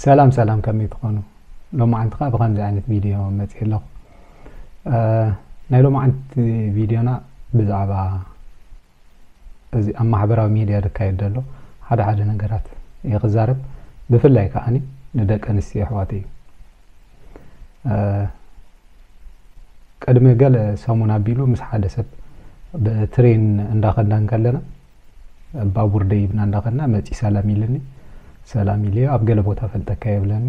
ሰላም ሰላም ከመይ ትኾኑ ሎማዓንቲ ከዓ ብከምዚ ዓይነት ቪድዮ መፅእ ኣለኹ ናይ ሎማዓንቲ ቪድዮና ብዛዕባ እዚ ኣብ ማሕበራዊ ሚድያ ዝካየድ ዘሎ ሓደ ሓደ ነገራት እየ ክዛረብ ብፍላይ ከዓኒ ንደቂ ኣንስትዮ ኣሕዋት እዩ ቅድሚ ገለ ሰሙን ኣቢሉ ምስ ሓደ ሰብ ብትሬን እንዳኸዳ እንከለና ባቡር ደይብና እንዳኸድና መጺ ሰላም ኢልኒ ሰላም ኢለዮ ኣብ ገለ ቦታ ፈልጠካ እየ ብለኒ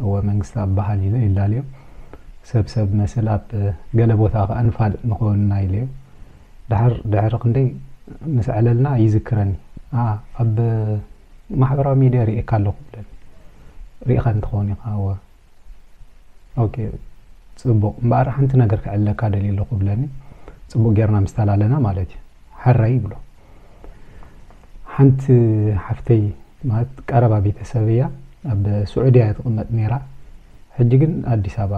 እወ መንግስታኣብ በሃል ኢለ ይላለዮ ሰብ ሰብ መስል ኣብ ገለ ቦታ ከኣ ንፋልጥ ንኸውን እና ኢለዮ ደሓር ድሕሪ ክንደይ ምስ ዕለልና ይዝክረኒ ኣኣ ኣብ ማሕበራዊ ሚድያ ሪኤካ ኣለኹ ብለኒ ሪኢኻኒ ትኸውን ኢኻ እወ ኦኬ ጽቡቕ እምበኣር ሓንቲ ነገር ክዕለካ ደልየ ኣለኹ ብለኒ ጽቡቕ ጌርና ምስ ተላለና ማለት እዩ ሕራይ ይብሎ ሓንቲ ሓፍተይ ማለት ቀረባ ቤተሰብ እያ ኣብ ስዑድያ እያ ትቕመጥ ነይራ ሕጂ ግን ኣዲስ ኣበባ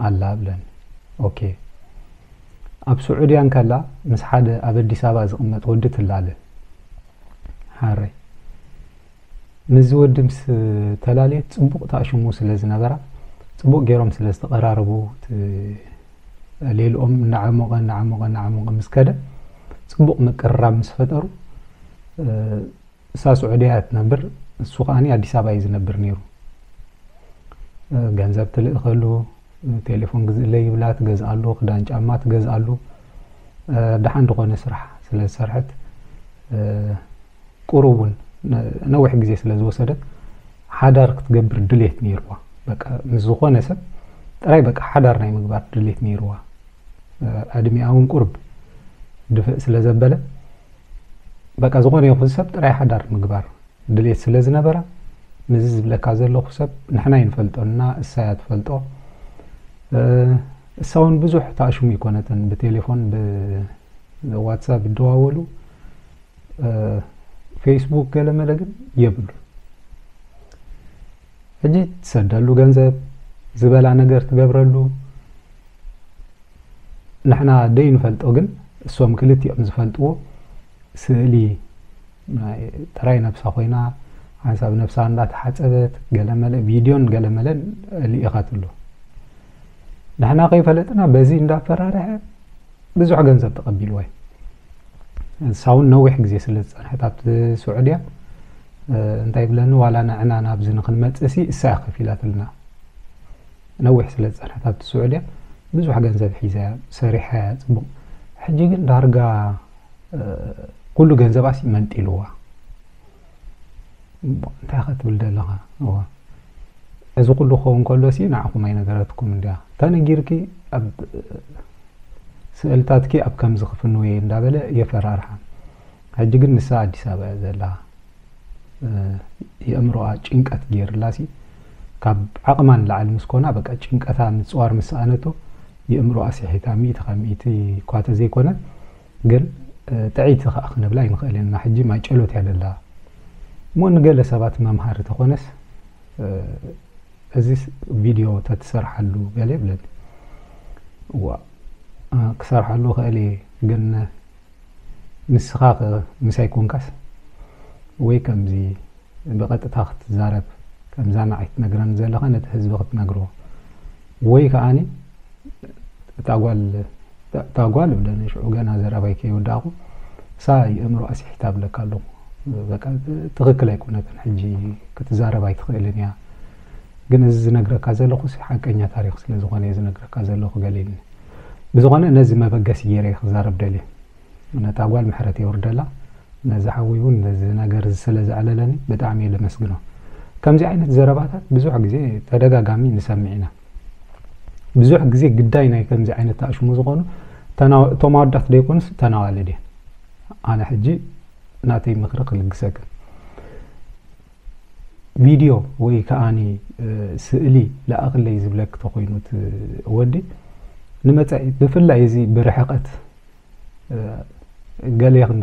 ኣላ ብለኒ ኦኬ ኣብ ስዑድያ እንከላ ምስ ሓደ ኣብ ኣዲስ ኣበባ ዝቕመጥ ወዲ ትላለ ሓረይ ምስዚ ወዲ ምስ ተላለየት ጽቡቕ ተኣሽሙ ስለ ዝነበራ ጽቡቕ ገይሮም ስለ ዝተቐራረቡ ሌልኦም እናዓሞቐ እናዓሞቐ እናዓሞቐ ምስ ከደ ጽቡቕ ምቅርራብ ምስ ፈጠሩ እሳ ስዑድያ እያ ትነብር እሱ ከዓኒ ኣዲስ ኣበባ እዩ ዝነብር ነይሩ ገንዘብ ትልእኸሉ ቴሌፎን ግዝእለ ይብላ ትገዝኣሉ ክዳን ጫማ ትገዝኣሉ ደሓን ዝኾነ ስራሕ ስለ ዝሰርሐት ቁሩብ ውን ነዊሕ ግዜ ስለ ዝወሰደ ሓዳር ክትገብር ድሌት ነይርዋ በቃ ምስ ዝኾነ ሰብ ጥራይ በቃ ሓዳር ናይ ምግባር ድሌት ነይርዋ ዕድሚኣ ውን ቁርብ ድፍእ ስለ ዘበለ በቃ ዝኾነ ይኹን ሰብ ጥራይ ሓዳር ምግባር ድሌት ስለ ዝነበራ ነዚ ዝብለካ ዘለኹ ሰብ ንሕና ይንፈልጦና እሳያ ትፈልጦ እሳ እውን ብዙሕ ተኣሽሙ ይኮነትን ብቴሌፎን ብዋትሳፕ ይደዋወሉ ፌስቡክ ገለመለ ግን የብሉ ሕጂ ትሰደሉ ገንዘብ ዝበላ ነገር ትገብረሉ ንሕና ደይ ንፈልጦ ግን እሶም ክልቲኦም ዝፈልጥዎ ስእሊ ጥራይ ነብሳ ኮይና ሓንሳብ ነብሳ እንዳተሓፀበት ገለመለ ቪድዮን ገለመለን ልኢኻት ኣሎ ንሕና ከይፈለጥና በዚ እንዳፈራርሐ ብዙሕ ገንዘብ ተቐቢልዎ እዩ ንሳ እውን ነዊሕ ግዜ ስለ ዝጸንሐት ኣብቲ ስዑድያ እንታይ ይብለኒ ዋላ ንዕና ናብዚ ንክንመጽእሲ እሳ እያ ከፊላትልና ነዊሕ ስለ ዝጸንሐት ኣብቲ ስዑድያ ብዙሕ ገንዘብ ሒዛ እያ ሰሪሓ እያ ጽቡቕ ሕጂ ግን ዳርጋ ኩሉ ገንዘባሲ መንጢልዋ እሞ እንታይ ከትብል ደለኻ እወ እዚ ኩሉ ክኸውን ከሎሲ ንዓኹም ኣይነገረትኩምን ድያ ተነጊርኪ ኣብ ስእልታትኪ ኣብ ከምዚ ክፍንው እየ እንዳበለ የፈራርሓ ሕጂ ግን ንሳ ኣዲስ ኣበባ እያ ዘላ የእምሮኣ ጭንቀት ገይርላሲ ካብ ዓቕማ ንላዕሊ ምስ ኮና በቃ ጭንቀታ ምፅዋር ምስ ሰኣነቶ የእምሮኣ ስሒታ ሚእቲ ካብ ሚእቲ እኳ ተዘይኮነ ግን ጥዕይቲ ከኣ ክንብላ ኣይንኽእልን ኢና። ሕጂ ማይ ጨሎት እያ ዘላ እሞ ንገለ ሰባት መምሃሪ ተኾነስ እዚስ ቪድዮ ተትሰርሓሉ ገለ ይብለኒ እዋ ክሰርሓሉ ኽእል እየ ግን ንስኻ ምሳይ ኮንካስ ወይ ከምዚ ብቀጥታ ክትዛረብ ከምዛ ንዓይ ትነግረኒ ዘለኻ ነቲ ህዝቢ ክትነግሮ ወይ ከኣኒ እታ ጓል እታ ጓል እብለኒ ሽዑ ገና ዘረባይ ከይወዳእኩ እሳ የእምሮ ኣስሒታ ብለካ ኣለኹ በቃ ትኽክል ኣይኮነትን ሕጂ ክትዛረብ ኣይትኽእልን እያ ግን እዚ ዝነግረካ ዘለኹ ሓቀኛ ታሪክ ስለ ዝኾነ ዝነግረካ ዘለኹ በሊኒ ብዝኾነ ነዚ መበገሲ ገይረ ክዛረብ ደልየ ነታ ጓል ምሕረት የውርደላ ነዚ ሓወይ ውን ነዚ ነገር ስለ ዘዕለለኒ ብጣዕሚ እየ ለመስግኖ ከምዚ ዓይነት ዘረባታት ብዙሕ ግዜ ተደጋጋሚ ንሰምዕ ኢና ብዙሕ ግዜ ግዳይ ናይ ከምዚ ዓይነት ተኣሽሙ ዝኾኑ እቶም ኣወዳት ደይኮኑስ እተን ኣዋልድ እየን ኣነ ሕጂ ናተይ ምኽሪ ክልግሰክን ቪድዮ ወይ ከዓኒ ስእሊ ለኣኽለይ ዝብለክ ተኾይኑ ወዲ ንመፃኢ ብፍላይ እዚ ብርሕቐት ገሌኽን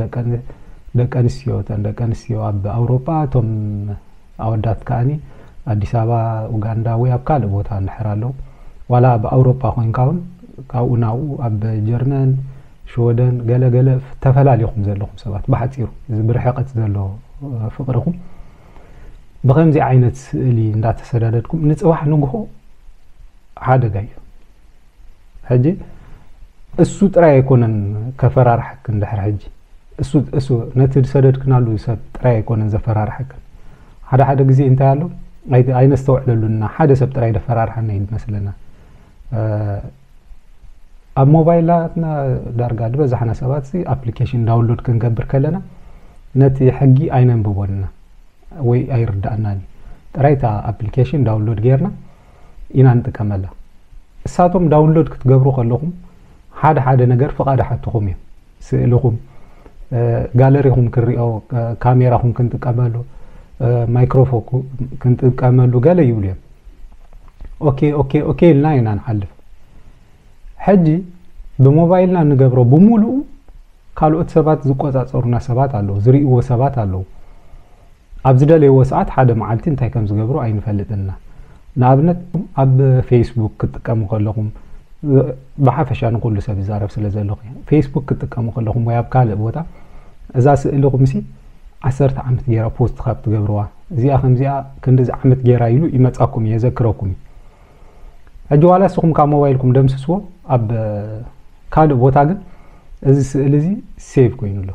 ደቀንስትዮ እተን ደቀንስትዮ ኣብ ኣውሮጳ እቶም ኣወዳት ከኣኒ ኣዲስ ኣበባ ኡጋንዳ ወይ ኣብ ካልእ ቦታ ንሕር ኣለዉ ዋላ ኣብ ኣውሮጳ ኮንካ እውን ካብኡ ናብኡ ኣብ ጀርመን ሽወደን ገለገለ ተፈላሊኹም ዘለኹም ሰባት ብሓፂሩ እዚ ብርሕቀት ዘሎ ፍቅርኹም ብከምዚ ዓይነት ስእሊ እንዳተሰዳደድኩም ንፅባሕ ንግሆ ሓደጋ እዩ ሕጂ እሱ ጥራይ ኣይኮነን ከፈራርሐክን ድሕሪ ሕጂ እሱ እሱ ነቲ ዝሰደድክናሉ ሰብ ጥራይ ኣይኮነን ዘፈራርሐክን ሓደ ሓደ ግዜ እንታይ ኣሎ ኣይነስተውዕለሉና ሓደ ሰብ ጥራይ ደፈራርሐና እዩ ዝመስለና ኣብ ሞባይላትና ዳርጋ ዝበዛሕና ሰባት ኣፕሊኬሽን ዳውንሎድ ክንገብር ከለና ነቲ ሕጊ ኣይነንብቦን ኢና ወይ ኣይርዳእናን እዩ ጥራይ እታ ኣፕሊኬሽን ዳውንሎድ ጌርና ኢና ንጥቀመላ እሳቶም ዳውንሎድ ክትገብሩ ከለኹም ሓደ ሓደ ነገር ፍቓድ ይሓትኹም እዮም ስእልኹም ጋለሪኹም ክንሪኦ ካሜራኹም ክንጥቀመሉ ማይክሮፎን ክንጥቀመሉ ገለ ይብሉ እዮም ኦኬ ኦኬ ኦኬ ኢልና ኢና ንሓልፍ ሕጂ ብሞባይልና ንገብሮ ብምሉኡ ካልኦት ሰባት ዝቆፃፀሩና ሰባት ኣለዉ ዝርእይዎ ሰባት ኣለዉ ኣብ ዝደለይዎ ሰዓት ሓደ መዓልቲ እንታይ ከም ዝገብሩ ኣይንፈልጥን እና። ንኣብነት ኣብ ፌስቡክ ክትጥቀሙ ከለኹም ብሓፈሻ ንኹሉ ሰብ ይዛረብ ስለ ዘለኹ እየ። ፌስቡክ ክትጥቀሙ ከለኹም ወይ ኣብ ካልእ ቦታ እዛ ስእልኹምሲ ዓሰርተ ዓመት ገይራ ፖስት ካብ ትገብርዋ እዚኣ ከምዚኣ ክንድዚ ዓመት ገይራ ኢሉ ይመጻኩም እዩ የዘክረኩም እዩ። ሕጂ ዋላ ንስኹም ካብ ሞባይልኩም ደምስስዎ ኣብ ካልእ ቦታ ግን እዚ ስእሊ እዚ ሴቭ ኮይኑ ኣሎ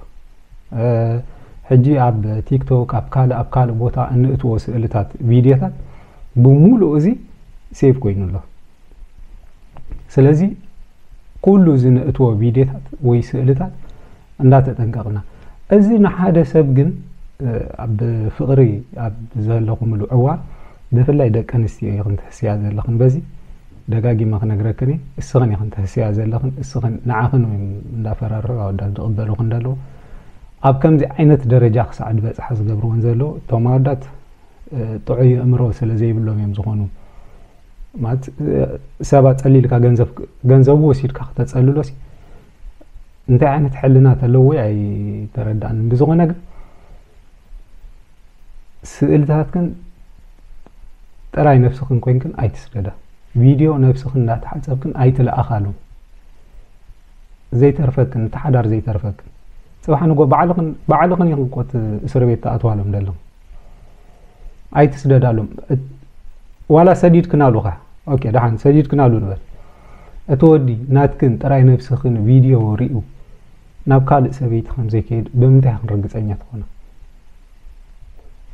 ሕጂ ኣብ ቲክቶክ ኣብ ካልእ ኣብ ካልእ ቦታ እንእትዎ ስእልታት ቪድዮታት ብምሉእ እዚ ሴቭ ኮይኑ ኣሎ ስለዚ ኩሉ ዝነእትዎ ቪድዮታት ወይ ስእልታት እንዳተጠንቀቕና እዚ ንሓደ ሰብ ግን ኣብ ፍቕሪ ኣብ ዘለኹምሉ እዋን ብፍላይ ደቂ ኣንስትዮ ኢኽን ትሕስያ ዘለኽን በዚ ደጋጊመ ክነግረክን እየ እስኽን ኢኽን ትሕስያ ዘለኽን እስኽን ንዓኽን እዮም እንዳፈራርሑ ኣወዳት ዝቕበሉኽን ዘለዉ ኣብ ከምዚ ዓይነት ደረጃ ክሳዕ ድበፅሓ ዝገብርዎን ዘለዉ እቶም ኣወዳት ጥዑይ ኣእምሮ ስለ ዘይብሎም እዮም ዝኾኑ ማለት ሰብ ኣጸሊልካ ገንዘብ ገንዘቡ ወሲድካ ክተጸልሎ ሲ እንታይ ዓይነት ሕልና ተለዎ ኣይተረዳን ብዝኾነ ግን ስእልታትክን ጥራይ ነብስኽን ኮንክን ኣይትስደዳ ቪድዮ ነብስኽን እንዳተሓጸብክን ኣይትለኣኻሉ ዘይተርፈክን እቲ ሓዳር ዘይተርፈክን ጽባሕ ንጎ ባዕልኽን ባዕልኽን ኢኹም ቆት እስር ቤት ተኣትዋሎም ደለኹም ኣይትስደዳሎም ዋላ ሰዲድክን ኣሉኻ ኦኬ ደሓን ሰዲድክን ኣሉ ንበል እቲ ወዲ ናትክን ጥራይ ነብስኽን ቪድዮ ሪኡ ናብ ካልእ ሰበይቲ ከም ዘይከይድ ብምንታይ ክን ርግፀኛ ትኾነ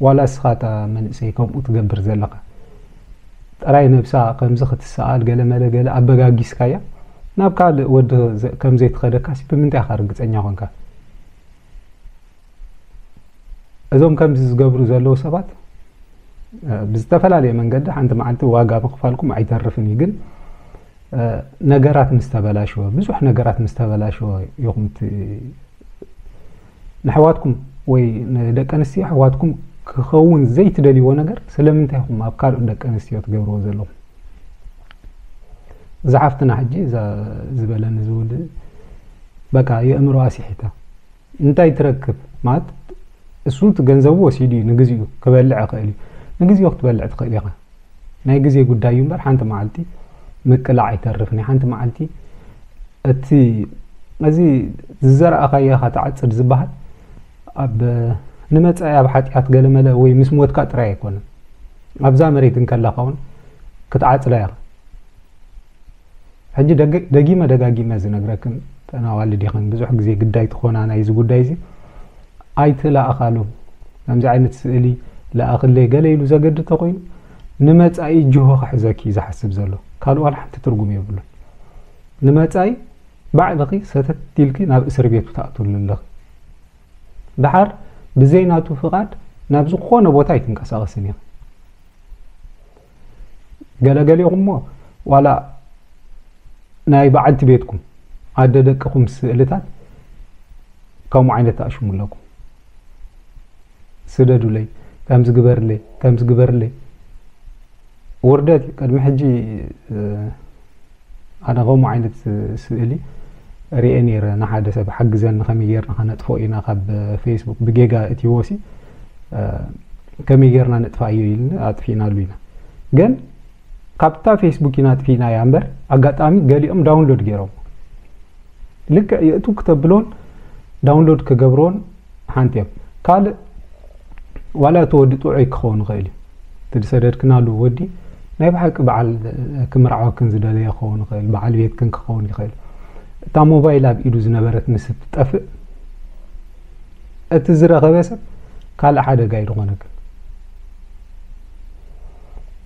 ዋላ እስኻ እታ መንእሰይ ከምኡ ትገብር ዘለኻ ጥራይ ነብሳ ከምዚ ክትሰኣል ገለ መለ ገለ ኣበጋጊስካያ ናብ ካልእ ወዲ ከም ዘይትኸደካሲ ብምንታይ ኢኻ ርግፀኛ ኮንካ እዞም ከምዚ ዝገብሩ ዘለዉ ሰባት ብዝተፈላለየ መንገዲ ሓንቲ መዓልቲ ዋጋ ምኽፋልኩም ኣይተርፍን እዩ ግን ነገራት ምስ ተበላሸወ ብዙሕ ነገራት ምስ ተበላሸወ ኢኹም ንኣሕዋትኩም ወይ ንደቂ ኣንስትዮ ኣሕዋትኩም ክኸውን ዘይትደልይዎ ነገር ስለምንታይ ኢኹም ኣብ ካልኦት ደቂ ኣንስትዮ ትገብርዎ ዘለኹም እዛ ሓፍትና ሕጂ ዝበለኒ ዝብል በቃ የእምሮ ኣስሒታ እንታይ ትረክብ ማለት እሱ እቲ ገንዘቡ ወሲዱ እዩ ንግዚኡ ክበልዕ ይኽእል እዩ ንግዚኡ ክትበልዕ ትኽእል ኢኻ ናይ ግዜ ጉዳይ እዩ እምበር ሓንቲ መዓልቲ ምቅላዕ ኣይተርፍን እዩ ሓንቲ መዓልቲ እቲ እዚ ዝዘረኣኻዮ ኢኻ ትዓፅድ ዝበሃል ኣብ ንመፃኢ ኣብ ሓጢኣት ገለመለ ወይ ምስ ሞትካ ጥራይ ኣይኮነን ኣብዛ መሬት እንከለኻ እውን ክትዓፅዳ ኢኻ ሕጂ ደጊመ ደጋጊመ ዝነግረክን ተን ኣዋልድ ኢኽን ብዙሕ ግዜ ግዳይ ትኾና ናይዚ ጉዳይ እዚ ኣይትለኣኻሉ ከምዚ ዓይነት ስእሊ ለኣኽለይ ገለ ኢሉ ዘገድ ተኾይኑ ንመጻኢ ጅሆ ክሕዘኪ እዩ ዝሓስብ ዘሎ ካልእ ዋላ ሓንቲ ትርጉም የብሉን ንመጻኢ ባዕልኺ ሰተት ኢልኪ ናብ እስር ቤቱ ተኣትሉ ኣለኺ ደሓር ብዘይ ናቱ ፍቓድ ናብ ዝኾነ ቦታ ኣይትንቀሳቐስን ኢኻ። ገለ ገሊኹምሞ ዋላ ናይ በዓልቲ ቤትኩም ኣደ ደቅኹም ስእልታት ከምኡ ዓይነት ትኣሽሙ ኣለኩም። ስደዱለይ፣ ከምዚ ግበርለይ፣ ከምዚ ግበርለይ ውርደት እዩ። ቅድሚ ሕጂ ኣነ ከምኡ ዓይነት ስእሊ ርኤ ነይረ ንሓደ ሰብ ሓግዘኒ ከመይ ጌርና ከነጥፎ ኢና ካብ ፌስቡክ ብጌጋ እትዎሲ ከመይ ጌርና ነጥፋዮ ኢልኒ ኣጥፊእናሉ ኢና ግን ካብታ ፌስቡክ ኢና ኣጥፊእናያ እምበር ኣጋጣሚ ገሊኦም ዳውንሎድ ገይሮም ልክዕ የእቱ ክተብሎን ዳውንሎድ ክገብሮን ሓንቲ እያ ካልእ ዋላ እቲ ወዲ ጥዑይ ክኸውን ይኽእል እዩ እቲ ዝሰደድክናሉ ወዲ ናይ ብሓቂ በዓል ክምርዓወክን ዝደለየ ክኸውን ይኽእል በዓል ቤትክን ክኸውን ይኽእል እታ ሞባይል ኣብ ኢዱ ዝነበረት ምስ እትጠፍእ እቲ ዝረኸበ ሰብ ካልእ ሓደጋ እዩ ዝኾነክን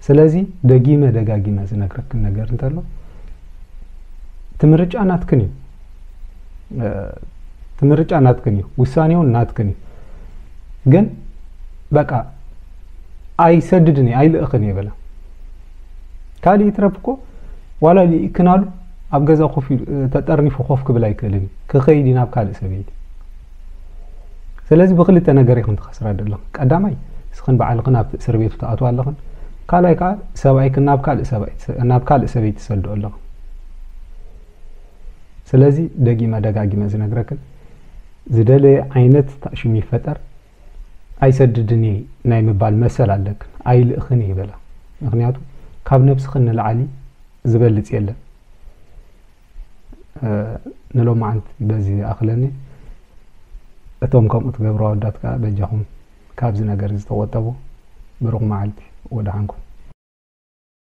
ስለዚ ደጊመ ደጋጊመ ዝነግረክን ነገር እንተሎ እቲ ምርጫ ናትክን እዩ ምርጫ ናትክን እዩ፣ ውሳኔውን ናትክን እዩ። ግን በቃ ኣይሰድድን እየ ኣይልእኽን እየ በላ። ካልእ ይትረፍ እኮ ዋላ ልኢክናሉ ኣብ ገዛ ኮፍ ተጠርኒፉ ኮፍ ክብል ኣይክእልን እዩ፣ ክኸይድ እዩ ናብ ካልእ ሰበይቲ። ስለዚ ብክልተ ነገር ኢኽን ትኸስራ ደለኹ። ቀዳማይ እስኽን በዓልኽን ኣብቲ እስር ቤቱ ትኣትዋ ኣለኽን፣ ካልኣይ ከዓ ሰብኣይክን ናብ ካልእ ሰበይቲ ትሰድኦ ኣለኽን። ስለዚ ደጊመ ደጋጊመ ዝነግረክን ዝደለየ ዓይነት ታእሽም ይፈጠር ኣይሰድድን እየ ናይ ምባል መሰል ኣለክን ኣይልእኽን እየ በላ ምክንያቱ ካብ ነብስኽን ንላዕሊ ዝበልፅ የለን ንሎማዓንቲ በዚ ይኣኽለኒ እቶም ከምኡ ትገብሩ ኣወዳት ከዓ በጃኹም ካብዚ ነገር ዝተቆጠቡ ብሩኽ መዓልቲ ወደሓንኩም